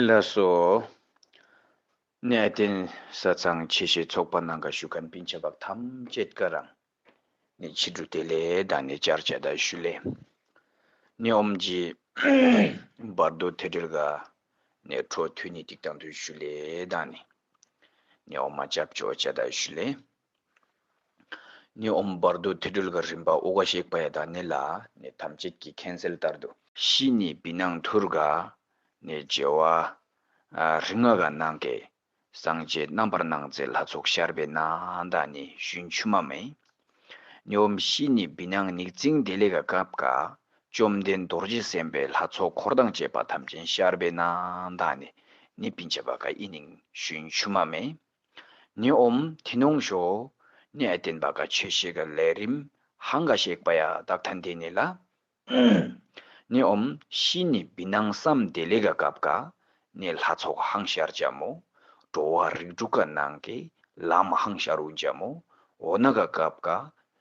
ལ་སོགས་གནས་བརྟན་ས་ཚང་ཆེ་བཞེས་ཚོགས་པ་ནང་ཁ་ཞུ་ཁ་འབིན་བྱ་བབ་ཐམས་ཅད་ཀ་རང་ནི་ཕྱི་དྲོ་དེ་ལས་དང་ནི་བཅར་བྱ་དག་ཞུ་ལས་ནི་ཨོམ་ཇི་བར་དོ་དེ་དྲེལ་ག་ནས་འཕྲོ་མཐུད་ནི་ཏིག་དང་དུ་ཞུ་ལས་དང་ནི་ནི་ཨོ་མ་བཅབ་ཆོག་བྱ་དག་ཞུ་ལས། ནི་འོང་བར་འདུག་དེ་སྦྲུལ་ག་རིམ་པ་དབུགས་ཀ་ཞེས་པ་ཡི་དྭགས་ནི་ལ་ནི་ཐམས་ཅད་ཀྱི་མཁན་སེལ་ལྟར་དུ། ཤི་ནི་བི་ནང་ཐུར་ག་ནི་བྱེ་བ་རིགས་ལྔ་ག་ནང་གི་སངས་རྒྱས་རྣམ་པར་སྣང་མཛད་ལྷ་ཚོགས་ཤར་བའི་ནང་དང་ནི་ཞུན་ཆུ་མ་མེ། ནི་འོང་ཤི་ནི་བི་ནང་ནིག་རྩིང་བདེ་ལེགས་ག་སྐབས་ག་བཅོམ་ལྡན་རྡོ་རྗེ་སེམས་དཔའི་ལྷ་ཚོགས་འཁོར་དང་བཅས་པ་ཐམས་ཅན་ཤར་བའི་ནང་དང་ནི་ནི་བི་འབྱེད་པ་ག་ཨི་ནིང་ཞུན་ཆུ་མ་མེ། ནི་འོམ་དེ་ནོངས་ཞོ་ནི་ཨེ་བསྟན་པ་ག་ཆོས་ཤིག་གི་ལས་རིམ་ཧང་ག་ཤེག་པ་ཡ་བདག་ཐ་འདི་ནི་ལ། ནི་འོམ་ཤི་ནི་བི་ནང་བསམ་བདེ་ལེ་ག་གབ་ག་ནི་ལྷ་ཚོགས་ཧང་ཤར་འཇམ་མོ་འགྲོ་བ་རིགས་དྲུག་ག་ནང་གི་ལམ་ཧང་ཤར་འུ་འཇམ་མོ་འོ་ན་ག་གབ་ག་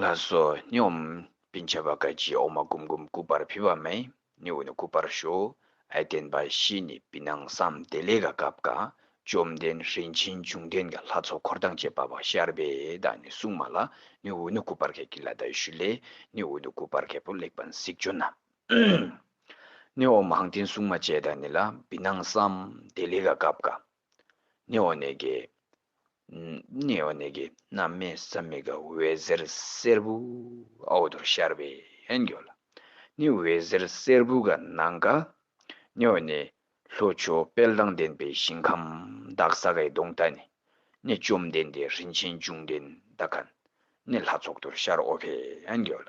ལ་སོགས་སྙོམས། པི་འཆ་བ་ཀ་ཅི་ཨོ་མ་ཀུམ་ཀུམ་སྐུ་པར་ཕུལ་བ་མེ་ནི་འོ་ནི་སྐུ་པར་ཞོ་ཨའི་བསྟན་པ་བཞི་ནི་པི་སྣང་བསམ་བདེ་ལས་ཀ་ཀབ་ཀ་བཅོམ་ལྡན་རིན་ཆེན་འབྱུང་ལྡན་གྱི་ལྷ་ཚོགས་འཁོར་དང་བཅས་པ་བ་ཤར་པའི་བདག་ནི་སྲུང་མ་ལ་ནི་འོ་ནི་སྐུ་པར་གས་ཀི་ལ་དྭ་ཞུ་ལས་ནི་འོ་ནི་སྐུ་པར་གས་པོ་གླེགས་བམ་གཟིགས་ཅོ་ན་ནི་ཨོ་མ་ཧང་སྟེན་སྲུང་མ་བཅས་བདག་ནི་ལ་པི་སྣང་བསམ་བདེ་ལས་ཀ་ཀབ་ཀ་ནི་འོ་ནི་གས་ནེ་ཨོ་ནེ་ཀེ་ན་མེ་ས་མི་ག་འོད་ཟེར་སེར་བུ་ཨའོ་དོར་ཤར་བས་འགྱོ་ལ་ནི་འོད་ཟེར་སེར་བུ་ག་ན་ག་ནེ་ཨོ་ནེ་ལྷོ་ཕྱོགས་དཔལ་དང་ལྡན་པའི་ཞིང་ཁམས་བདག་ས་གའི་གདོང་མཐའ་ནི་ནི་བཅོམ་ལྡན་འདས་རིན་ཆེན་འབྱུང་ལྡན་ད་ག་ནི་ལྷ་ཚོགས་དོར་ཤར་ཨོ་བས་འགྱོ་ལ་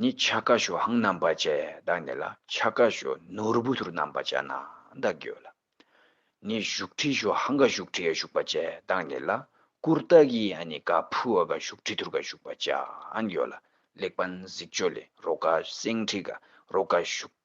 ནི་ཆ་ཀ་ཞོ་ཧང་རྣམ་པ་བཅས་བདག་ནི་ལ་ཆ་ཀ་ཞོ་ནོར་བུ་ཐུར་རྣམ་པ་བཅས་ན་བདག་གོ་ལ། ནི་བཞུགས་ཁྲི་ཞོ་ཧང་ཀ་བཞུགས་ཁྲི་ཡ་བཞུགས་པ་བཅས་བདག་ནི་ལ་ཀུར་རྟ་གི་ཡ་ནི་ཀ་ཕུ་བ་ཀ་བཞུགས་ཁྲི་ཐུར་ཀ་བཞུགས་པ་བཅས་གོ་ལ་ལེགས་པ་གཟིགས་ཆོ་ལེ་རོ་ཀ་སེང་ཁྲི་ཀ་རོ་ཀ་བཞུགས།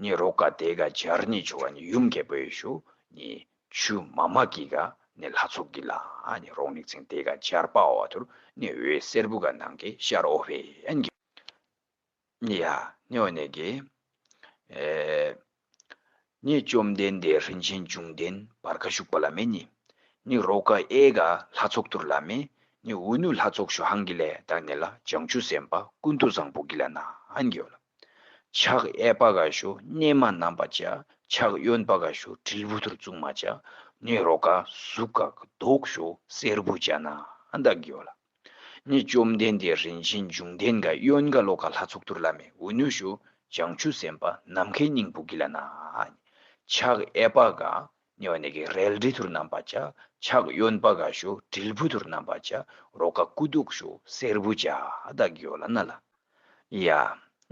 ནི་རོ་ག་དེ་ག་སྦྱར་ནི་བྱུ་བ་ནི་ཡུམ་རྒྱལ་པོའི་གཞུ་ནི་ཆུ་མ་མ་ཀི་ག་ནི་ལྷ་ཚོགས་ཀི་ལ་ནི་རོག་ནི་ཚིང་དེ་ག་སྦྱར་པའོ་བ་དུར་ནི་འོད་སེར་བུ་ག་ནང་གི་ཤ་རོ་བྷེ་ཨན་གི་ནི་ཡ་ནི་བ་ནི་གི་ནི་བཅོམ་ལྡན་འདས་རིན་ཆེན་འབྱུང་ལྡན་བར་ག་ཞུགས་པ་ལ་མེ་ནི་ནི་རོ་ག་ཨེ་ག་ལྷ་ཚོགས་དུར་ལ་མེ་ནི་འུ་ནུ་ལྷ་ཚོགས་ཞུ་ཧང་གི་ལས་དང་ནི་ལ་བྱང་ཆུ་སེམས་དཔའ་ཀུན་ཏུ་བཟང་པོ་གི་ལ་ནང་གི་ཨན་གི་ཨོ་ལ། ཕྱག་གཡས་པ་ག་ཞུ་གནས་མ་རྣམས་པ་བྱ། ཕྱག་གཡོན་པ་ག་ཞུ་དྲིལ་བུ་ཐུར་བཙུགས་མ་བྱ། ནི་རོ་ག་གཟུགས་ཀ་གི་ཟློག་ཞུ་སེར་བུ་བྱ་ན་འདག་གིོ་ལ། ནི་བཅོམ་ལྡན་འདས་རིན་ཆེན་འབྱུང་ལྡན་ག་གཡོན་ག་ལོ་ག་ལྷ་ཚོགས་དུར་ལ་མེ་འུ་ནུ་ཞུ་བྱང་ཆུབ་སེམས་དཔའ་ནམ་མཁའི་སྙིང་པོ་གི་ལ་ནཱ། ཕྱག་གཡས་པ་ག་ནི་བ་ནི་གི་རལ་གྲི་ཐུར་བསྣམས་པ་བྱ། ཕྱག་གཡོན་པ་ག་ཞུ་དྲིལ་བུ་ཐུར་བསྣམས་པ་བྱ། རོ་ག་སྐུ་གདུགས་ཞུ་སེར་བུ་བྱ། བདག་གི་ཡོ་ལ་ན་ལ། ཡ།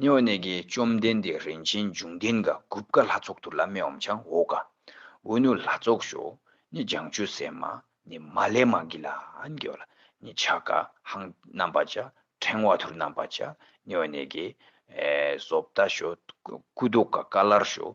ནི་བ་ནི་གི་བཅོམ་ལྡན་འདས་རིན་ཆེན་འབྱུང་ལྡན་ག་གུབ་ཀ་ལྷ་ཚོགས་ཐུར་ལ་མེ་འོམ་ཆང་འོ་ག། འུ་ནུ་ལྷ་ཚོགས་ཞུ། ནི་ལྗང་ཆུ་སེར་མ། ནི་མ་ལས་མ་གི་ལ་ནི་གི་བ་ལ། ནི་ཕྱག་ག་ཧང་བསྣམས་པ་བྱ། ཕྲེང་བ་ཐུར་བསྣམས་པ་བྱ། ནི་བ་ནི་གི། བཟོ་བདག་ཞུ། སྐུ་གདུགས་ག་ཀ་ལར་ཞུ།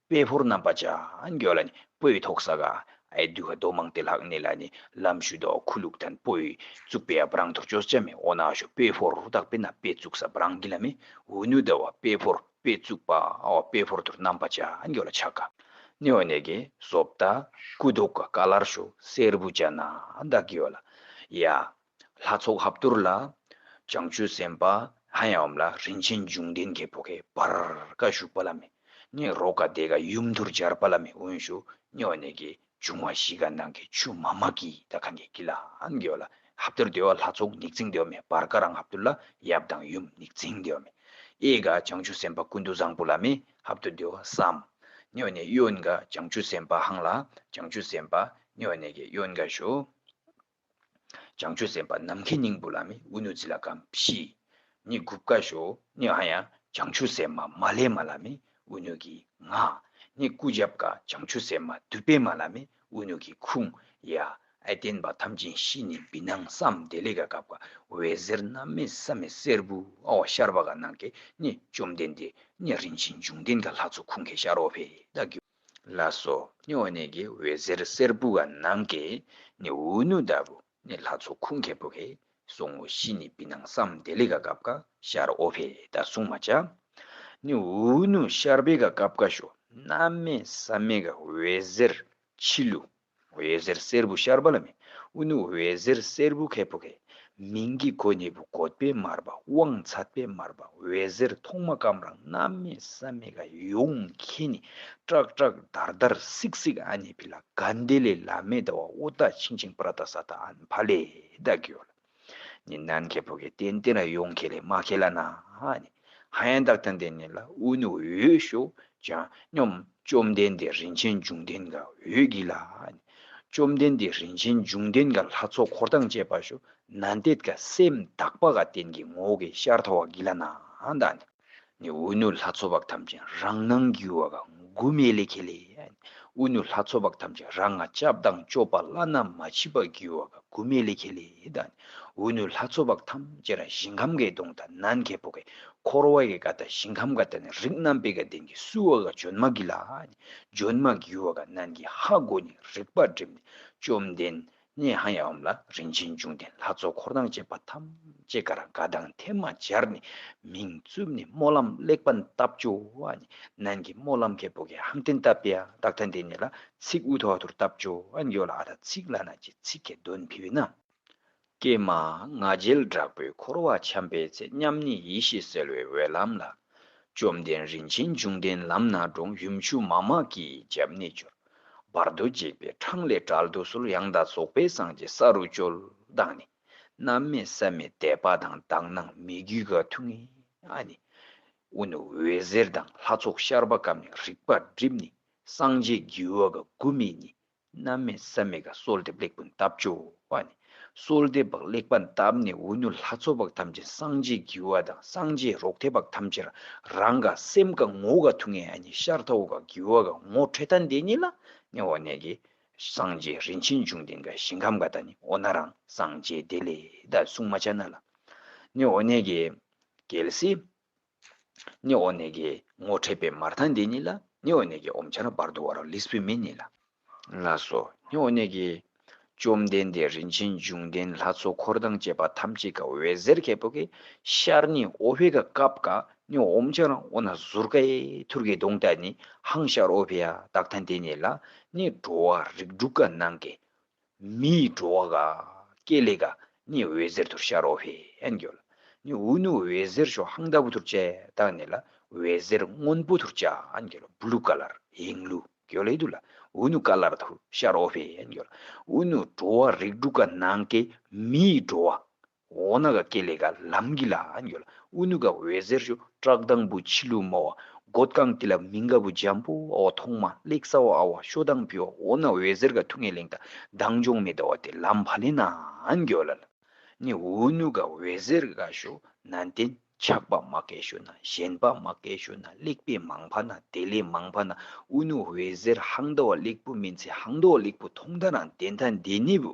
དཔལ་ཕུར་རྣམ་པ་ཅནགྱོད་ལ་ནི་སྤོས་ཐོག་ས་གའི་དུས་ཁ་དོག་མང་སྟེ་ལྷག་གནས་ལ་ནི་ལམ་ཞུ་དོག་ཁུ་ལུག་དང་སྤོས་བཙུགས་པའི་བ་རང་དུར་ཅོ་ལྕ་མའི་འོ་ན་ཞོ་དཔལ་ཕུར་རུ་དག་པས་ན་དཔེ་བཙུགས་ས་བ་རང་གི་ལ་མི་འུ་ནུ་ད་བ་དཔལ་ཕུར་དཔེ་བཙུགས་པའོ་དཔལ་ཕུར་དུར་རྣམ་པ་ཅནགྱོད་ལ་ཆག་གནས་འོ་ནས་ཀྱི་སོབ་ད་ཀུ་དོག་ག་ལར་ཞོ་སེར་བུ་ཅནག་ཡོད་ལ། ཡ། ལྷ་ཚོགས་ཧབ་དུར་ལ། བྱང་ཆུབ་སེམས་དཔའ་ལྷ་ཡབ་ལ་རིན་ཆེན་འབྱུང་ལྡན་གྱི་བུ་གའི་བར་ཀ་བཞུགས་པ་ལ་མི་གནས་རོ་ག་དེ་ག་ཡུམ་དུར་སྦྱར་བ་ལ་མི་དབོན་ཞུ་སྨྱོ་གནས་ཀྱི་འབྱུང་བ་བཞི་ག་ནང་གི་ཆུ་མ་མ་ཀི་ད་ག་ནི་ཀི་ལ་ཨན་གི་ཨོ་ལ་ཧབ་དུར་དེ་བ་ལྷ་ཚོགས་ནིག་ཙིང་དེ་བ་མི་བར་ཀ་རང་ཧབ་དུར་ལ་ཡབ་དང་ཡུམ་ནིག་ཙིང་དེ་བ་མི་ཨེ་ག་བྱང་ཆུབ་སེམས་དཔའ་ཀུན་ཏུ་བཟང་པོ་ལ་མི་ཧབ་དུར་དེ་བ་སམ་སྨྱོ་གནས་གཡོན་ག་བྱང་ཆུབ་སེམས་དཔའ་ཧང་ལ་བྱང་ཆུབ་སེམས་དཔའ་སྨྱོ་གནས་ཀྱི་གཡོན་ག་བཞུགས། བྱང་ཆུབ་སེམས་དཔའ་ནམ་མཁའི་སྙིང་པོ་ལ་མི་དབུལ་གནོད་འཚེ་ལ་ཁམས་བཞི་ནི་དགུ་བཀའ་བཞོ་ནི་ཨ་ཡང་བྱང་ཆུབ་སེམས་མ་མ་ལས་མ་ལ་མི་དབུལ་གནོད་ཀྱི་ང་ནི་སྐུ་བརྒྱ་བཀའ་བྱང་ཆུབ་སེམས་མ་བདུད་པའི་མ་ལ་མི་དབུལ་གནོད་ཀྱི་ཁུངས་ཡ་ཨ་བསྟན་པ་ཐམས་ཅན་བཞི་ནི་བི་སྣང་བསམ་བདེ་ལས་ཀ་གབ་ཀ་བའི་ཟེར་རྣམ་མེད་བསམ་མེད་སེར་བུ་ཨོ་ཤར་བ་ག་ནང་གི་ནི་བཅོམ་ལྡན་འདས་ནི་རིན་ཆེན་འབྱུང་ལྡན་ག་ལྷ་ཚོགས་ཁུངས་ཀྱི་ཤར་ཨོ་བྷི་ད་གུ། ལ་སོགས་ནི་འོག་ནས་ཀྱི་འོད་ཟེར་སེར་པོ་འགའ་ནང་གི་ནི་འུ་ནུ་ལྟ་བུ་ནི་ལྷ་ཚོགས་ཁུངས་ཁེ་པོ་ཧེ་སོ་ངོ་བཞི་ནི་བི་ནང་སམ་བདེ་ལེ་ག་གབ་ཀ་ཤར་ཨོ་བྷེ་ད་གསུང་མ་བྱ། ནི་འུ་ནུ་ཤར་བྷེ་ག་གབ་ཀ་ཤོ་ནམ་མེ་སམ་མེ་ག་འོད་ཟེར་འཆི་བསླུ་འོད་ཟེར་སེར་བུ་ཤར་བ་ལ་མི་དབུལ་ནི་འོད་ཟེར་སེར་བུ་ཁད་བུ་ཁའི་མིང་གི་གོ་གཉིས་པོ་བཀོད་པས་དམར་བ་དབང་ཚད་པས་དམར་བ་འོད་ཟེར་ཐོག་མ་སྐམ་རང་རྣམ་མེད་བསམ་མེད་ཀ་ཡོང་ཁྱེད་ནི་ཀྲག་ཀྲག་དར་དར་སིག་སིག་ཨ་ནི་བི་ལ་ག་འདི་ལས་ལ་མེ་ད་བ་ཨུ་ད་ཆིང་ཆིང་པྲ་ད་ས་ད་ཨན་བྷ་ལེ་ད་གི་ཡོ་ལ། ནི་ནན་གྱི་བུ་གི་ཏན་ཏན་ར་ཡོང་གི་ལས་མ་གི་ལ་ན་ཧ་ནི་ཧ་ཡན་དག་ཏན་ཏན་ནི་ལ་འུ་ནི་འོད་ཤོག་ཅང་སྙོམས་བཅོམ་ལྡན་འདས་རིན་ཆེན་འབྱུང་ལྡན་ག་འོད་གི་ལ་ཧ་ནི་བཅོམ་ལྡན་འདས་རིན་ཆེན་འབྱུང་ལྡན་ག་ལྷ་ཚོགས་འཁོར་དང་བཅས་པ་ཤོ་ན་འདེད་ག་སེམས་དག་པ་ག་ཏན་གི་ངོ་བོ་གི་ཤར་ཐོ་བ་གི་ལ་ན་ཧ་ནི་ནི་དབུས་ནུ་ལྷ་ཚོགས་དཔག་ཐམས་ཅད་རང་སྣང་གི་བ་ག་མགུ་མའི་ལས་ཁེ་ལས། དབུས་ནུ་ལྷ་ཚོགས་དཔག་ཐམས་ཅད་རང་སྔགས་སྐྱབས་དང་སྐྱོབ་པ་བླ་ན་མ་མཆིས་པ་གི་བ་ག་མགུ་མའི་ལས་ཁེ་ལས། དབུས་ནུ་ལྷ་ཚོགས་དཔག་ཐམས་ཅད་རང་ཞིང་ཁམས་གའི་གདོང་དང་ནམ་མཁའི་བུ་གའི་འཁོར་བ་གའི་ག་དང་ཞིང་ཁམས་ག་དང་ནི་རིགས་རྣམ་པའི་ག་ལྡན་གྱི་སུ་བ་ག་འཇོན་མ་གི་ལ། འཇོན་མ་གི་བ་ག་རྣམས་ཀྱི་ཧ་གོ་ནི་རིག་པ་སྒྲིབ་ནས་བཅོམ་ལྡན་ནས་ཧང་ཡང་འོམ་ལ་རིན་ཆེན་འབྱུང་ལྡན་ལྷ་ཚོགས་འཁོར་དང་བཅས་པ་ཐམས་ཅད་གར་དགའ་དང་ཐལ་མ་སྦྱར་ནས་མིང་བཙུམ་ནས་སྨོན་ལམ་ལེགས་པར་བཏབ། བཅོ་ཨན་ནན་གྱི་སྨོན་ལམ་གལ་པོ་གས་ཧམ་བརྟན་བཏབ་པས་རྟགས་མཐའ་འདས་ནས་ལ་ཚིག་དབུས་ཐོག་ཐུར་བཏབ། བཅོ་ཨན་ཡོ་ལ་ཨ་ཐ་ཚིག་བླ་ན་ཀྱི་ཚིག་གས་གདོན་ཕུལ་བས་ན། ཀྱེ་མ། ང་རྒྱལ་དྲག་པོས་འཁོར་བར་འཁྱམས་པའི་ཚེ་མཉམ་ཉིད་ཡེ་ཤེས་གསལ་བའི་འོད་ལམ་ལ། བཅོམ་ལྡན་རིན་ཆེན་འབྱུང་ལྡན་ལམ་སྣ་དྲུང་ཡུམ་ཆུ་མ་མ་ཀིའི་རྒྱབ་གནས་སྦྱོར། བར་དུ་འཇིགས་པའི་འཕྲང་ལས་བསྒྲལ་དུ་གསོལ་ཡང་དག་རྫོགས་པའི་སངས་རྒྱས་ས་རུ་སྤྱོད། བདག་ནི་རྣམ་མེད་ས་མེད་དད་པ་དང་བདག་སྣང་མི་རྒྱུད་དགའ་མཐུ་ངེས་ཨ་ནི། དབུ་ནི་འོད་ཟེར་དང་ལྷ་ཚོགས་ཤར་བ་གམ་ནི་རིག་པ་བསྒྲིབས་ནི་སངས་རྒྱས་རྒྱུ་བ་དགའ་མགུ་མེད་ནི་རྣམ་མེད་ས་མེད་དགའ་གསོལ་འདེབས་ལེགས་ཀུན་བཏབ་སྤྱོད་པ་ནི། གསོལ་འདེབས་པ་ལེགས་པར་བཏབ་ནས་འུ་མྱུར་ལྷ་ཚོགས་དཔག་ཐམས་ཅད་སངས་རྒྱས་ཀྱི་བ་དང་སངས་རྒྱས་རོག་ཐའི་བག་ཐམས་ཅད་རང་དགའ་སེམས་དགའ་ངོ་དགའ་ཐུགས་ངེས་ཨ་ནི་ཤར་ཐའོ་དགའ་དགེ་བ་དགའ་ངོ་འཕྲད་ཐ་འདས་ཉིད་ལ་ནི་འོ་ནས་ཀྱི། སངས་རྒྱས་རིན་ཆེན་འབྱུང་ལྡན་དགའ་ཞིང་ཁམས་དགའ་ད་ནི་འོ་ན་རང་སངས་རྒྱས་དེ་ལས་ད་གསུང་མ་ཆ་ན་ལ་ནི་འོ་ནས་ཀྱི། གལ་སྲིད། ནི་ཨོ་ནེ་ཀའི་ངོ་འཕྲད་པའི་མར་ཐང་འདི་ཉིད་ལ་ནི་ཨོ་ནེ་ཀའི་ཨོམ་ཆར་འབར་དུ་བ་རོ་ལིས་བུད་མེད་ནི་ལ་ལ་སོ་ནི་ཨོ་ནེ་ཀའི། བཅོམ་ལྡན་འདས་རིན་ཆེན་འབྱུང་ལྡན་ལྷ་ཚོགས་འཁོར་དང་བཅས་པ་ཐམས་ཅད་ཀྱི་འོད་ཟེར་གྱི་བུ་གའི་ཤར་ནི་ཨོ་བྷེ་ཀ་ཀབ་ཀ་ནི་ཨོམ་ཆར་ཨོ་ན་ཟུར་ཀའི་ཐུར་གྱི་གདོང་དག་ནི་ཧང་ཤར་ཨོ་བྷེ་ཡ་དག་ཐང་འདི་ཉིད་ལ་ནི་འགྲོ་བ་རིགས་དྲུག་ག་ནང་གི། མི་ཡི་འགྲོ་བ་ག། ཀེ་ལེ་ག། ནི་འོད་ཟེར་དུར་ཤ་རོ་བྷེ་ཨན་གྱོ་ལ། ནི་འུ་ནུ་འོད་ཟེར་ཤོ་ཧང་ད་བུ་དུར་ཅེ་ཏག་ནི་ལ། འོད་ཟེར་སྔོན་པོ་དུར་ཅ་ཨན་གྱོ་ལ་བུ་ལུ་ཀ་ལར་ཧེང་ལུ་གྱོ་ལེ་དུ་ལ། འུ་ནུ་ཀ་ལར་དུར་ཤ་རོ་བྷེ་ཨན་གྱོ་ལ། འུ་ནུ་འགྲོ་བ་རིགས་དྲུག་ག་ནང་གི་མི་ཡི་འགྲོ་བ། འོ་ན་ག་སྐྱེ་ལེ་ག་ལམ་གི་ལ་ཡོད་ལ་ཨུ་ནུ་ག་འོད་ཟེར་ཞུ་བཀྲག་དང་བུ་འཆི་ལུ་མོ་བ་མགོ་རྐང་ཏི་ལ་མི་འགའ་བུ་འཇམ་པོ་བ་བ་ཐོག་མ་གླེགས་ས་བ་ཨ་བ་ཤོ་དང་བུ་བ་འོ་ན་འོད་ཟེར་ག་ཐུགས་ངེས་ལེང་ད་དང་འཇོང་མེ་ད་བ་དེ་ལམ་བ་ལེ་ན་འགྱོ་ལ་ལ་ནི་ཨུ་ནུ་ག་འོད་ཟེར་ག་ཞུ་ན་འདན་ཆགས་པ་མ་ཀེ་ཞུ་ན་ཞེན་པ་མ་ཀེ་ཞུ་ན་གླེགས་པས་མང་བ་ན་དེ་ལས་མང་བ་ན་ཨུ་ནུ་འོད་ཟེར་ཧང་ད་བ་གླེགས་བུ་མིན་ཚེ་ཧང་ད་བ་གླེགས་བུ་ཐོག་མཐའ་ན་འདན་ད་འདན་ནི་བུ།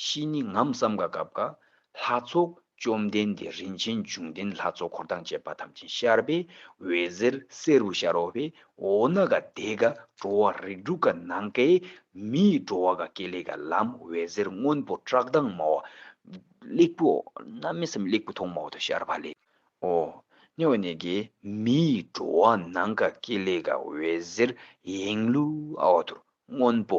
གཤིས་ནི་ངམ་བསམ་དགའ་སྐབས་དགའ། ལྷ་ཚོགས་བཅོམ་ལྡན་འདས་རིན་ཆེན་འབྱུང་ལྡན་ལྷ་ཚོགས་འཁོར་དང་བཅས་པ་ཐམས་ཅད་ཤར་པའི་འོད་ཟེར་བསེ་རུ་ཤར་འོག་པའི་འོག་ན་དགའ་བདེ་དགའ་བྲོ་བ་རིགས་དྲུག་དགའ་ནང་དགའི་མི་ཡི་བྲོ་བ་དགའ་སྐྱེ་ལེགས་དགའ་ལམ་འོད་ཟེར་སྔོན་པོ་བཀྲག་མདངས་མ་བ། གླེགས་བུ་འོག་ན་མི་བསམ་གླེགས་བུ་ཐོག་མ་འོག་ཏུ་ཤར་བ་ལས། འོག་ནས་འོད་ནས་དགའི་མི་ཡི་བྲོ་བ་ནང་དགའ་སྐྱེ་ལེགས་དགའ་འོད་ཟེར་ཡེངས་ལུས་འོག་ཏུ་སྔོན་པོ་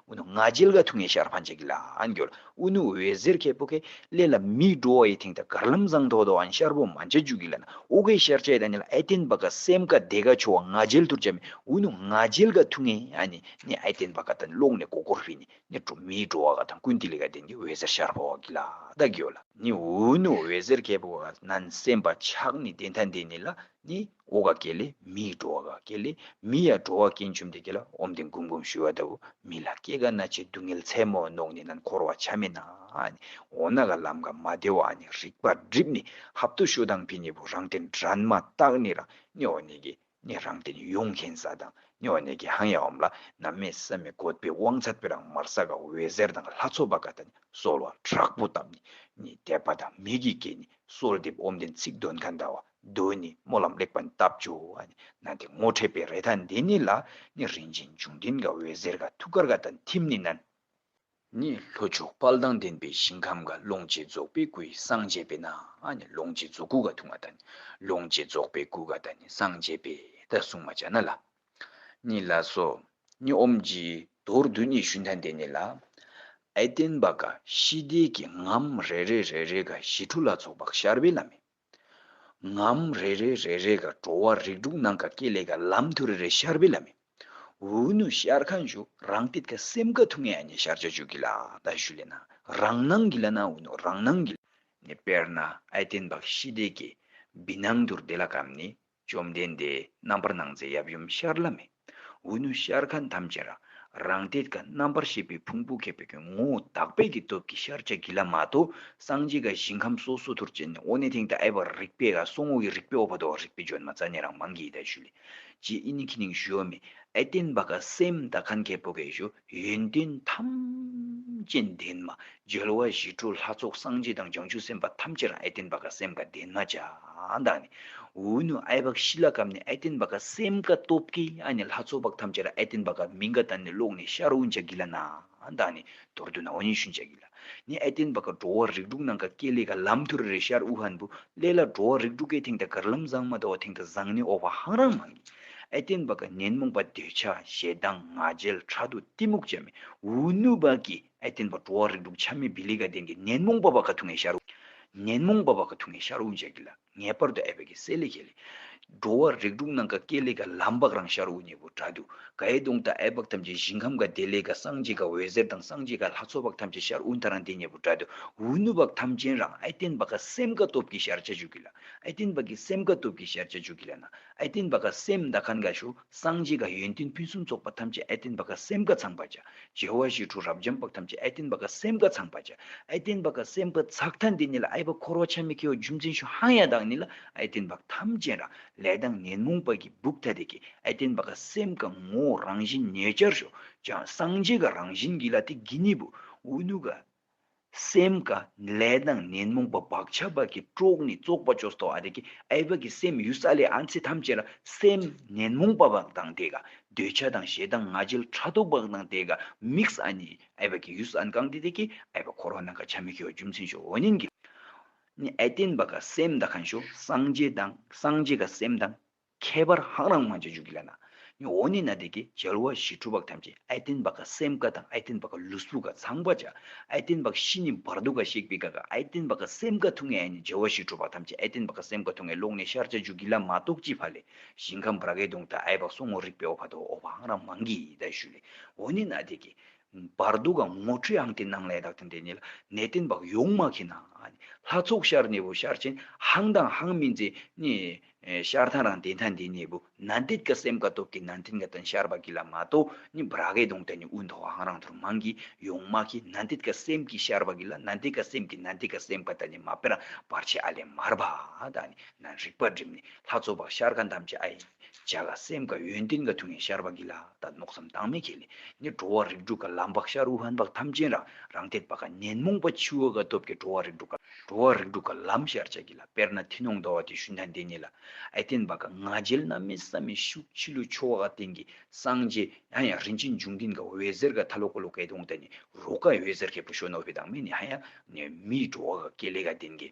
ཨུ་ནུ་ང་རྒྱལ་དགའ་ཐུག་ངས་ཞར་འཕངས་བྱེད་ཀྱི་ལགས་འགྱུར་ཨུ་ནུ་འོད་ཟེར་ཁའི་སྤུ་ཁའི་ཀླད་ལ་མིག་འགྲོ་བ་ཡི་ཐེངས་ད་གར་ལམ་བཟང་ཐོག་ཏུའང་ཤར་བོ་མ་འཇའ་འཇུག་གི་ལ་ན་ཨོ་ཁའི་ཤར་ཆའི་དང་ནི་ལ་ཨེ་བསྟན་པ་དགའ་སེམས་དགའ་བདེ་དགའ་ཆོ་བ་ང་རྒྱལ་ཐུར་བྱ་མི་ཨུ་ནུ་ང་རྒྱལ་དགའ་ཐུག་ངས་ཨ་ནི་ནི་ཨེ་བསྟན་པ་དགའ་ད་ནི་ཀློག་ནས་མགོ་སྐོར་བྷི་ནི་ནི་འགྲོ་མིག་འགྲོ་བ་དགའ་དང་ཀུན་ཏི་ལི་དགའ་ལྡན་གྱི་འོད་ཟེར་ཤར་བོ་གི་ལགས་འགྱུར། ནི་ཨུ་ནུ་འོད་ཟེར་ཁའི་སྤུ་ཁ་ན་ནི་སེམས་དཔའ་ཕྱག་ནི་བདེ་མཐའ་འདི་ནི་ལ་ནི། འོ་ག་གེ་ལས་མི་ཡི་འགྲོ་བ་ག་གེ་ལས་མི་ཡ་འགྲོ་བ་རྐྱེན་བཅོམ་ལྡན་འགྱེད་ལ་ཨོམ་ལྡན་གུམ་གུམ་ཞུ་བ་ལྟ་བུ་མི་ལ་སྐྱེ་རྒ་ན་འཆི་སྡུག་བསྔལ་མཚན་མོ་བཟློག་ནས་ན་འཁོར་བ་ཆ་མེད་ན་འོ་ན་ག་ལམ་ག་མ་བདེ་བ་ནི་རིག་པ་སྒྲིབ་ནས་ཧབ་ཏུ་ཞུ་དང་ཕི་ནི་བུ་རང་བསྟན་དྲན་མ་བརྟགས་ནས་རང་ནི་འོ་ནི་གི་ནི་རང་བསྟན་ཡོངས་མཁྱེན་ས་དང་ནི་འོ་ནི་གི་ཧང་ཡ་འོམ་ལ་ན་མེ་ས་མི་བཀོད་པའི་དབང་ཚད་པའི་རང་མར་ས་ག་འོད་ཟེར་དང་ལྷ་ཚོགས་པ་ག་ད་ནི་གསོལ་བ་དྲག་པོ་བཏབ་ནས་ནི་དད་པ་དང་མིག་གིས་ཀྱེ་ནི་གསོལ་འདེབས་ཨོམ་ལྡན་ཚིག་དོན་ཁ་འདའ་བ། མདོས་ནི་སྨོན་ལམ་ལེགས་པར་བཏབ་བཅུ་ན་དེ་ངོ་འཕྲད་པའི་རེ་ཐ་འདི་ནི་ལ་ནི་རིན་ཆེན་འབྱུང་ལྡན་ག་འོད་ཟེར་ག་ཐུགས་ཀར་ག་དང་ཐིམ་ནི་ན། ནི་ལྷོ་ཕྱོགས་དཔལ་དང་ལྡན་པའི་ཞིང་ཁམས་ག་ལོངས་སྤྱོད་རྫོགས་པའི་སྐུའི་སངས་རྒྱས་པས་ན་ནི་ལོངས་སྤྱོད་རྫོགས་སྐུ་ག་ཐུགས་མ་ད་ནི་ལོངས་སྤྱོད་རྫོགས་པའི་སྐུ་ག་ད་ནི་སངས་རྒྱས་པས་ད་གསུངས་མ་བྱ་ན་ལ་ནི་ལ་སོ། ནི་ཨོམ་གྱི་མདོར་བསྡུ་ནི་ཞུན་ཐ་འདི་ནི་ལ་ཨེ་བསྟན་པ་ག་ཞི་བདེ་གི་ངམ་རེ་རེ་རེ་རེ་ག་ཞི་ཁྲོ་ལ་ཚོགས་པ་ཤར་བའི་ལམ་མེ། ངམ་རེ་རེ་རེ་རེ་ག་འགྲོ་བ་རིགས་དྲུག་སྣང་ག་སྐྱེ་ལས་ག་ལམ་དུ་རེ་རེ་ཤར་བི་ལ་མི་འུ་ནུ་ཤར་ཁ་འཇུ་རང་སྟེད་ག་སེམས་ག་ཐུག་ངེ་ཨ་ནི་ཤར་བྱ་འཇུག་གི་ལ་ད་ཞུ་ལེ་ན་རང་སྣང་གི་ལ་ན་འུ་ནུ་རང་སྣང་གི་ལ་ནི་དཔེར་ན་ཨའི་རྟེན་པ་ཤི་དེ་གི་བི་སྣང་དུར་དེ་ལ་གམ་ནི་བཅོམ་ལྡན་འདས་རྣམ་པར་སྣང་མཛད་ཡབ་ཡུམ་ཤར་ལྷ་མི། འོད་ནུས་ཤར་ཁ་འདམ་ཅན་རང་རང་གཏེར་ཁ་རྣམ་པར་ཤེས་པའི་ཕུང་པོ་ཁེབས་པའི་ངོ་བོ་དག་པས་ཀྱི་སྟོབས་ཀྱིས་ཤར་ཕྱག་གི་ལྷ་མ་དོ་སངས་རྒྱས་དགའ་ཞིང་ཁམས་སོ་སོ་དུར་བྱས་ནས་འོག་ནས་དེང་དང་ཨེ་བ་རིག་པའི་ཨ་སོང་འོག་གི་རིག་པའི་ཨོ་བ་དོ་རིག་པའི་ལྗོན་མ་རྩ་ནས་རང་མང་གི་ཡི་དྭགས་ཞུ་ལས་ཀྱི་ཨི་ནི་ཁི་ནིང་ཞུ་ཨོ་མི་ཨེ་བརྟེན་པ་ཀ་སེམས་དག་གན་གེ་པོ་ཀའི་ཞུ། ཡོན་ཏན་ཐམས་ཅད་ལྡན་མ། འཇོལ་བ་ཞི་ཁྲོ་ལྷ་ཚོགས་སངས་རྒྱས་དང་བྱང་ཆུབ་སེམས་དཔའ་ཐམས་ཅད་རང་ཨེ་བརྟན་པ་ཀ་སེམས་ཀ་ལྡན་མ་ཅག་དག་ནི། འུ་ནུ་ཨའི་བག་ཤི་ལ་གམ་ནི་ཨེ་བརྟན་པ་ཀ་སེམས་ཀ་སྟོབས་ཀི་ཨ་ནི་ལྷ་ཚོགས་བག་ཐམས་ཅད་ར་ཨེ་བརྟན་པ་ཀ་མི་འགའ་དང་ནི་ལོག་ནས་ཤར་འུ་འཇག་གི་ལ་ན་དག་ནི་དོར་དུ་ན་འུ་ཉི་ཤུ་འཇག་གི་ལ། ནི་ཨེ་ཏེན་བ་ག་འགྲོ་བ་རིགས་དྲུག་ནང་ག་ཀེ་ལེ་ག་ལམ་དུ་རེ་རེ་ཤར་དབུ་ཧན་བུ་ལེ་ལ་འགྲོ་བ་རིགས་དྲུག་གའི་ཐེང་ད་གར་ལམ་བཟང་མ་ད་བ་ཐེང་ད་བཟང་ནི་ཨོ་བ་ཧང་རང་མ་ངེས། ཨེ་ཏེན་བ་ག་ཉོན་མོངས་པ་འདོད་ཆགས་ཞེ་སྡང་ང་རྒྱལ་ཁྲག་དུག་གཏི་མུག་བྱད་མའི་འུར་ནུ་བ་ཀི་ཨེ་ཏེན་བ་འགྲོ་བ་རིགས་དྲུག་ཆ་མེད་བི་ལི་ག་ལྡན་གི་ཉོན་མོངས་པ་བ་ག་ཐུགས་ངའི་ཤར་དབུ། ཉོན་མོངས་པ་བ་ག་ཐུགས་ངའི་ཤར་དབུ་འཇལ་གི་ལ། ངེས་པར་དུ་ཨེ་བྷེ་ཀེ་སེ་ལེ་ཁེ་ལེ། འགྲོ་བ་རིགས་དྲུག་སྣང་ག་ཀེ་ལེ་ཀ་ལམ་བག་རང་ཤར་དབུ་སྙེད་པོ་དྲག་འདུ་ག་ཨེ་དུང་དང་ཨེ་བག་ཐམས་ཅད་ཞིང་ཁམས་ག་དེ་ལེ་ཀ་སངས་རྒྱས་ཀ་འོད་ཟེར་དང་སངས་རྒྱས་ཀ་ལྷ་ཚོགས་བག་ཐམས་ཅད་ཤར་དབུ་མཐའ་རང་དེ་སྙེད་པོ་དྲག་འདུ་འུ་ནུ་བག་ཐམས་ཅན་རང་ཨེ་བརྟེན་པ་ཀ་སེམས་ཀ་སྟོབས་ཀྱིས་ཤར་བྱ་བྱུག་གི་ལ་ཨེ་བརྟེན་པ་ཀི་སེམས་ཀ་སྟོབས་ཀྱིས་ཤར་བྱ་བྱུག་གི་ལ་ན་ཨེ་བརྟེན་པ་ཀ་སེམས་མདའ་ཁ་འགའ་བྱུག། སངས་རྒྱས་དགའ་ཡོན་ཏན་ཕུན་སུམ་ཚོགས་པ་ཐམས་ཅད་ཨེ་བསྟན་པ་ཀ་སེམས་དགའ་ཚངས་པ་བྱ། རྒྱལ་བ་ཞི་ཁྲོ་རབ་འབྱམས་དཔའ་ཐམས་ཅད་ཨེ་བསྟན་པ་ཀ་སེམས་དགའ་ཚངས་པ་བྱ། ཨེ་བསྟན་པ་ཀ་སེམས་དགའ་ཚགས་མཐའ་འདི་ནི་ལ་ཨེ་བ་འཁོར་བ་ཆ་མེད་ཁྱེའུ་རྒྱུ་མཚན་ཞུ་ཧང་ཡ་དང་ནི་ལ་ཨེ་བསྟན་པ་ཐམས་ཅད་ར་ལས་དང་ངན་མོང་པ་གི་སྦུབས་ཐ་དད་ཀྱི་ཨེ་བསྟན་པ་ཀ་སེམས་དགའ་ངོ་བོ་རང་བཞིན་ཉེ་བར་ཤོག་ཅག་སངས་རྒྱས་ཀ་རང་བཞིན་གྱི་ལ་དེ་གི་ནི་བུ་འུ་ནུ་ཀ། སེམས་དགའ་ལས་དང་ནན་མོངས་པ་བག་ཆགས་བག་གི་དཀྲོགས་ནས་བཙོག་པ་ཅོ་སྟོ་ཨ་རེ་གི་ཨའི་བག་གི་སེམས་ཡུལ་ས་ལས་ཨ་མཚེ་ཐམས་ཅད་ལ་སེམས་ནན་མོངས་པ་བག་དང་དེ་དགའ་འདོད་ཆགས་དང་ཞེ་སྡང་ང་རྒྱལ་ཕྲག་དོག་བག་དང་དེ་དགའ་དམིགས་ཨ་ནི་ཨའི་བག་གི་ཡུལ་ས་ཨན་གང་དེ་དེ་གི་ཨའི་བག་འཁོར་བ་ནང་ག་ཆ་མི་ཤོ་རྒྱུ་མཚན་ཤོ་འོ་ནན་གི་ཨ་ཨའི་བརྟེན་པ་ག་སེམས་དགའ་གང་ཤོ་སངས་རྒྱས་དང་སངས་རྒྱས་ག་སེམས་དང། ཁྱད་པར་ཧང་རང་མ་ཅི་འཇུག་གི་ལ་ན་ནི་འོ་ནི་ན་དེ་ཀའི་རྒྱལ་བ་བཞི་ཁྲུ་བག་ཐམས་ཅད་ཨའི་སྟན་བག་ག་སེམས་དགའ་དང་ཨའི་སྟན་བག་ག་ལུས་སྲུ་ག་ཚངས་པ་བྱ་ཨའི་སྟན་བག་བཞི་ནི་བར་དོ་ག་གཤེགས་པའི་དགའ་ག་ཨའི་སྟན་བག་ག་སེམས་དགའ་ཐུགས་ངེས་ཨའི་ནི་རྒྱལ་བ་བཞི་ཁྲུ་བག་ཐམས་ཅད་ཨའི་སྟན་བག་ག་སེམས་དགའ་ཐུགས་ངེས་ལོག་ནས་ཤར་བྱ་འཇུག་གི་ལ་མ་རྟོགས་ཅི་བ་ལས་ཞིང་ཁམས་བར་གའི་དུང་དང་ཨའི་བག་སོ་ངོ་རིག་པའི་ཨོ་བྷ་དོ་ཨོ་བྷ་ཧང་རང་མ་འགི་ཡི་དྭགས་ཞུ་ལས་འོ་ནི་ན་དེ་ཀའི། བར་དོ་ག་ངོ་འཕྲོད་ཨང་དེ་སྣང་ལས་དག་དང་ལྡན་ནས་ལ་ནའི་སྟན་བག་ཡོངས་མ་གི་ན་ཨ་ནི་ལྷ་ཚོགས་ཤར་ནས་བུ་ཤར་ཆེན་ཧང་དང་ཧང་མིན་ཛེ་ནི། ཤར་ཐང་རང་བདེན་ཐང་འདི་ནས་བུ་ན་འདེད་ཀ་སེམས་ཀ་དོག་གི་ན་འཐེན་ཀ་དང་ཤར་བ་གི་ལ་མ་ཏོ་ནི་བ་ར་གའི་དོང་ཏ་ནི་དབུ་མཐོ་བ་ཧང་རང་ཐུར་མང་གི་ཡོང་མ་གི་ན་འདེད་ཀ་སེམས་ཀི་ཤར་བ་གི་ལ་ན་འདེད་ཀ་སེམས་ཀི་ན་འདེད་ཀ་སེམས་ཀ་ཏ་ནི་མ་པེ་རང་བར་ཆད་ཨ་ལས་མར་བ་ད་ནི་ན་རིག་པ་སྒྲིམ་ནི་ལྷ་ཚོ་བ་ཤར་ཀ་འདམ་ཅི་ཨ་ཡིན་བྱ་ཀ་སེམས་ཀ་ཡོན་ཏན་ཀ་ཐུ་ངན་ཤར་བ་གི་ལ་ད་ནོག་སམ་དང་མེ་ཁེ་ལི་ནི་འགྲོ་བ་རིགས་དྲུག་ཀ་ལམ་བག་ཤར་དབུ་ཧན་བག་ཐམས་ཅན་རང་རང་འཐད་པ་ཀ་ཉན་མོངས་པ་འཆི་བ་ཀ་སྟོབས་ཀི་འགྲོ་བ་རིགས་དྲུག་ཀ། འགྲོ་བ་རིགས་དྲུག་གི་ལམ་ཤར་བྱ་གྱིས་ལ་དཔེར་ན་ཐི་ནོང་འདོ་བ་དེ་ཤུན་ཐ་འདི་ཉིད་ལ་ཨེ་བརྟེན་པ་ག་ང་རྒྱལ་རྣམ་སྨིན་བསམ་མི་ཤུགས་འཆི་བསླུ་འཆོལ་བ་ག་སྟེང་གི་སངས་རྒྱས་ཡང་ཡང་རིན་ཆེན་འབྱུང་ལྡན་ག་འོད་ཟེར་ག་ཐ་ལོ་ཀོ་ལོ་ཀའི་དུང་དང་ནི་རོ་ཀ་འོད་ཟེར་གའི་བུ་ཤོ་ནོ་བྷི་དང་མི་ནི་ཧ་ཡང་ནི་མིའི་འགྲོ་བ་ག་ཀེ་ལེ་ག་ལྡན་གི་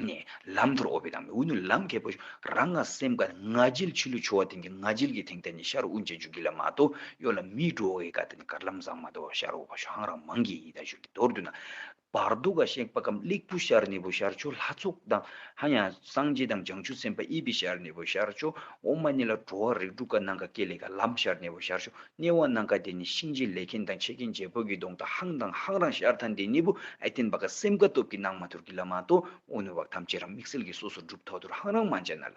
ནི་ལམ་མཐོར་ཨོ་བྷི་དང་མི་འུ་ནུ་ལམ་གའི་བུ་ཤོ་རང་ང་སེམས་ག་ང་རྒྱལ་འཆི་བསླུ་འཆོལ་བ་སྟེང་གི་ང་རྒྱལ་གི་དེང་དང་ནི་ཤར་དབུས་འཇའ་འཇུག་གི་ལ་མ་དོ་ཡོ་ལ་མིའི་འགྲོ་བ་གའི་ག་དང་ནི་གར་ལམ་བཟང་མ་དོ་བ་ཤར་འོག་བ་ཤོ་ཧང་རང་མང་གི་ཡི་དྭགས་ཤོ་གི་མདོར་བསྡུ་ན་བར་དུ་ཀ་ཤེག་པ་ཀམ་དཀླིགས་བུ་ཤར་ནི་བུ་ཤར་ཆུ་ལྷ་ཚུགས་དང་ཧ་ཡང་སངས་རྒྱས་དང་བྱང་ཆུབ་སེམས་དཔའ་ཨི་བི་ཤར་ནི་བུ་ཤར་ཆུ་འོག་མ་ནི་ལ་འགྲོ་བ་རིགས་དྲུག་ཀ་ནང་ཀ་ཀེ་ལི་ཀ་ལམ་ཤར་ནི་བུ་ཤར་ཆུ་གནས་བ་ནང་ཀ་དེ་ནི་གཤིན་རྗེ་ལས་མཁན་དང་ཆེ་མཁན་རྗེ་བོད་ཀྱི་གདོང་དང་ཧང་དང་ཧང་རང་ཤར་ཐ་འདི་ནི་བུ་ཨི་བསྟན་པ་ཀ་སེམས་ཀ་སྟོབས་ཀྱི་ནང་མ་ཐུར་གྱི་ལ་མ་དོ་འོ་ནུ་བ་ཐམས་ཅད་རང་མིག་སེལ་གྱི་སོ་སོར་སྒྲུབ་ཐོག་ཏུ་ཧང་རང་མ་འཇལ་ན་ལ།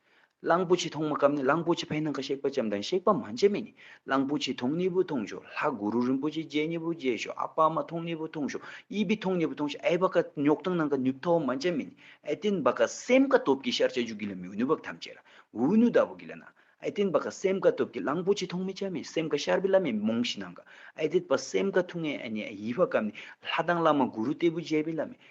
གླང་པོ་ཆེ་མཐོང་མ་སྐབས་ནི་གླང་པོ་ཆེ་ཕའི་ནང་གི་གཤེགས་པ་ལྕམ་དང་གཤེགས་པ་མ་འཇལ་མེད་ནས་གླང་པོ་ཆེ་མཐོང་གཉིས་པོ་མཐོང་ཞོག་ལྷ་གུ་རུ་རིན་པོ་ཆེ་མཇལ་གཉིས་པོ་མཇལ་ཞོག་ཨ་ཕ་མ་མཐོང་གཉིས་པོ་མཐོང་ཞོག་གཡས་པས་མཐོང་གཉིས་པོ་མཐོང་ཞོག་ཨེ་བ་ཀ་ཉོག་དང་ནང་གི་ནུབ་ཐོ་བ་མ་འཇལ་མེད་ནས་ཨེ་ཏིན་བ་ཀ་སེམས་དགའ་སྟོབས་ཀྱི་ཤར་བྱ་རྒྱུ་གི་ལ་མིའུ་ནུ་བབ་ཐམས་ཅད་ལ་འུ་ནུ་ལྟ་བུ་གི་ལ་ན་ཨེ་ཏིན་བ་ཀ་སེམས་དགའ་སྟོབས་ཀྱི་གླང་པོ་ཆེ་མཐོང་མི་འཇལ་མེད་སེམས་དགའ་ཤར་བའི་ལ་མེ་མོང་བཞི་ནང་གི་ཨེ་ཏིད་བ་སེམས་དགའ་ཐུགས་ངན་ཨེ་ནས་ཡིད་བ་ཀ་ནས་ལྷ་དང་བླ་མ་གུ་རུ་ལྟེ་བུ་མཇལ་བའི་ལ་མེ།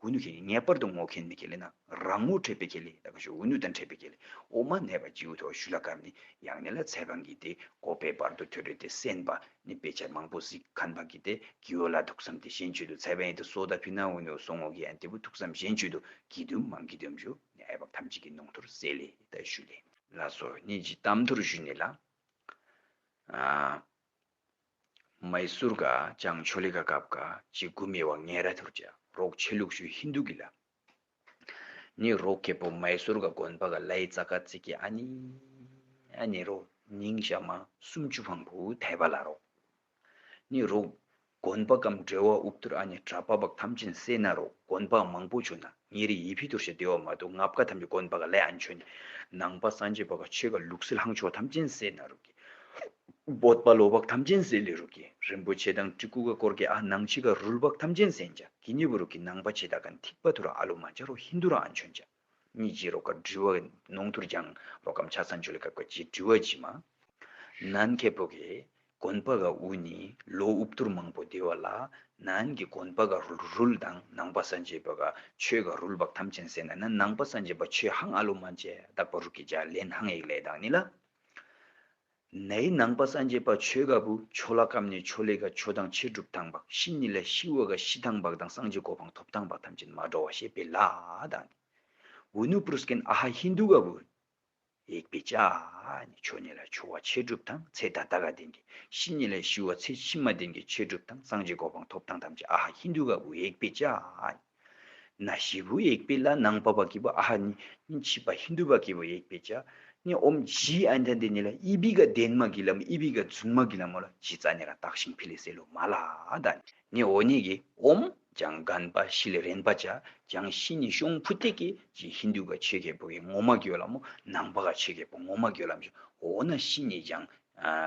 འུ་ནུ་ཁེ་ལེ་ངེས་པར་དུ་ངོ་ཁེན་ནི་ཁེ་ལེ་ན་རང་ངོ་འཕྲད་པའི་ཁེ་ལེ་ད་ག་ཞུ་འུ་ནུ་དང་འཕྲད་པའི་ཁེ་ལེ་འོ་མ་ནད་པ་ཅིའུ་ཐོ་ཞུ་ལ་ཀར་ནི་ཡང་ནི་ལ་ཚད་གང་གིས་དེ་ཀོ་པའི་བར་དུ་ཐོད་རོས་དེ་སེན་པ་ནི་དཔེ་ཆ་མང་པོ་ཟིག་ཁན་པ་གིས་དེ་གིའོ་ལ་ཐུགས་བསམ་དེ་ཞེན་ཆོད་དུ་ཚད་བན་དེ་སོ་ད་ཕི་ན་འུ་ནུ་སོ་ངོ་ཁེ་ཡན་དེ་པོ་ཐུགས་བསམ་ཞེན་ཆོད་དུ་གིས་དུམ་མང་གིས་དུམ་ཞུ་ནི་ཨེ་བབ་ཐམས་ཅད་ཀྱི་ནོང་ཐོར་སེ་ལེ་ད་ཞུ་ལེ། ལ་སོ་ནི་ཇི་གཏམ་ཐོར་ཞུ་ནི་ལ། མཱི་སུར་ག་ཅང་ཆོ་ལི་ག་ཀབ་ག་ཅི་གུ་མི་བ་ངན་ར་ཐུར་ཅ་རོག་ཆེ་ལུག་ཤུ་ཧིན་དུ་གི་ལ་ནི་རོག་ཀེ་པོ་མཱི་སུར་ག་དགོན་པ་ག་ལའི་ཙ་ཀ་ཙི་ཀི་ཨ་ནི་ཨ་ནི་རོ་ཉིང་ཤ་མ་སུམ་ཅུ་བྷང་བུ་དྷའི་བ་ལ་རོག་ནི་རོག་དགོན་པ་གམ་འབྲེལ་བ་ཨུབ་ཐུར་ཨ་ནི་གྲ་པ་བ་ཁམ་ཅིན་སེ་ན་རོག་དགོན་པ་མང་པོ་ཆུ་ན་ཉེ་རིགས་ཡི་བྷི་དུར་ཞེས་བརྡོལ་བ་མ་དུ་ངབ་ཀ་དམ་གྱི་གོན་པ་ག་ལས་ཨན་ཆོན། ནང་པ་སངས་རྒྱས་པ་ག་ཆོས་ག་ལུགས་སྲིད་ལྷང་ཕྱོགས་དམ་ཅན་སྲས་ན་རུ་ཀི། བོད་པ་ལོ་བག་དམ་ཅན་སྲས་ལི་རུ་ཀི་རིན་པོ་ཆེ་དང་གྲི་གུ་ག་ཀོར་ཀེ་ཨ་ནང་ཕྱི་ག་རུལ་བག་དམ་ཅན་སན་ཅཱ་ཀི་ཉེ་བུ་རུ་ཀི་ནང་པ་ཆེ་ད་ག་འཐིག་པ་དུ་ར་ཨ་ལུ་མ་ཅཱ་རོ་ཧིན་དུ་ར་ཨན་ཆོན་ཅཱ་ཉི་ཇི་རོ་ཀ་འབྲི་བ་ནོང་དུར་འཇང་རོ་ཀམ་ཆ་སན་ཆོ་ལི་ཀ་ཀ་ཇི་འབྲི་བ་ཇི་མ་ནན་ཁེ་བོ་ཀེ་གོན་པ་ག་དབུ་ནི་ལོ་དབུ་བསྟུར་མང་པོ་བསྡེ་བ་ལ་ནང་གི་གོན་པ་ག་རུལ་དང་ནང་པ་སངས་རྒྱས་པ་ག་ཆོས་ག་རུལ་བག་ཐམས་ཅན་ཟད་ན་ནི་ནང་པ་སངས་རྒྱས་པ་ཆོས་ཧང་ཨ་ལོ་མ་བཅས་དག་པ་རུ་གི་བྱ་ལེན་ཧང་ཡིག་ལས་དང་ནི་ལ་ནའི་ནང་པ་སངས་རྒྱས་པ་ཆོས་ག་བུ་ཆོ་ལ་ཀམ་ནི་ཆོ་ལེ་ག་ཆོ་དང་ཕྱི་སྒྲུབ་དང་བག་ཤི་ནི་ལས་ཤི་བ་ག་ཤི་དང་བག་དང་སངས་རྒྱས་གོ་འཕང་ཐོབ་དང་བག་ཐམས་ཅད་མ་འགྲོ་བ་ཞེས་པའི་ལ་དང་ནི་ཝི་ནུ་པུ་རུ་སྐན་ཨ་ཧ་ཧིན་དུ་ག་བུ། ལེགས་པའི་ལྕགས་ནི་ཆོས་ཉིད་ལ་འཆོལ་བ་ཆས་སྒྲུབ་དང་ཚེ་དང་ད་གའ་ལྡན་གྱི་ཤིང་ཉིད་ལ་ཤི་བ་ཚེ་ཕྱི་མ་ལྡན་གྱི་ཆས་སྒྲུབ་དང་སངས་རྒྱས་གོ་འཕང་ཐོབ་དང་ཐམས་ཅད་ཨ་ཧ་ཧིན་དུ་ག་བུ་ཡེག་པའི་ལྕགས་ནི། ན་ཞི་བུ་ཡེག་པའི་ལ་ནང་པ་བ་ཀི་བུ་ཨ་ཧ་ནི་ནི་མཆིས་པ་ཧིན་དུ་བ་ཀི་བུ་ཡེག་པའི་ལྕགས་ནི་ཨོམ་བཞིའི་ཨན་དྷན་དེ་ཉིད་ལ་ཨི་བི་ཀ་ལྡན་མ་ཀི་ལམ་ཨི་བི་ཀ་བརྫུན་མ་ཀི་ལམ་མོ་ལ་བཞི་རྩ་ནི་ར་དག་ཤིང་ཕི་ལི་སེ་ལོ་མ་ལ་དཱ་ནི། ནི་འོ་ཉིད་ཀྱི་ཨོམ་ལྗང་སྒང་པ་ཤི་ལ་རེན་པ་བྱ་ལྗང་ཤི་ནི་ཤོང་ཕུ་ཏེ་ཀེ་ཅི་ཧིན་དུ་པ་ཆོས་རྒྱལ་པོ་ཡི་ངོ་མ་གྱོད་ལ་མོ་ནང་པ་ག་ཆོས་རྒྱལ་པོ་ངོ་མ་གྱོད་ལ་མི་ཤོ་འོ་ན་ཤི་ནི་ལྗང་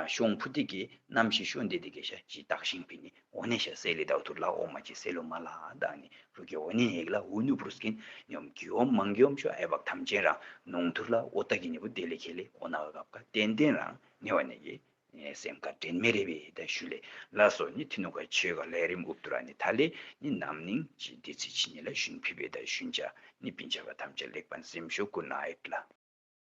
ཤོང་ཕུ་ཏེ་ཀེ་ནམ་ཤི་ཤོ་འདེ་ཏེ་ཀེ་ཤ་ཅི་ཏག་ཤིང་པི་ནི་འོ་ནེ་ཤ་སེ་ལི་ཏའུ་ཐུར་ལ་ཨོ་མ་ཅི་སེ་ལུ་མ་ལ་ཏག་ནི་རུ་ཀེ་འོ་ནེ་ཧེ་ཀི་ལ་ཧུ་ནུ་པུར་སྐིན་ཉོམ་གྱི་ཨོམ་མང་གྱི་ཨོམ་ཤོ་ཨེ་བག་ཐམ་ཅན་རང་ནོང་ཐུར་ལ་ཨོ་ཏ་ཀི་ནི་པུ་ཏེ་ལི་ཁེ་ལི་འོ་ན་ཨ་གབ་ཀ་ཏན་ཏན་རང་ནེ་བ་ནེ་ཀི་ནས་སེམས་དགའ་དྲན་མེད་རེ་བའི་ཡི་དྭགས་ཞུ་ལེ་ལ་སོགས་ནི་ཐི་ནུ་ཀ་ཆོས་དགའ་ལས་རིམ་ཨུབ་དུ་ར་ནི་ཐ་ལེ་ནི་ནམ་ནིང་ཅི་བདེ་ཚེ་ཕྱི་ཉིན་ལ་ཞུན་ཕི་བེ་དང་ཞུན་ཅཱ་ནི་བི་འཇའ་བ་ཐམས་ཅད་ལེགས་པར་འཛེམ་ཞོ་ཀུ་ནཱེད་ལ།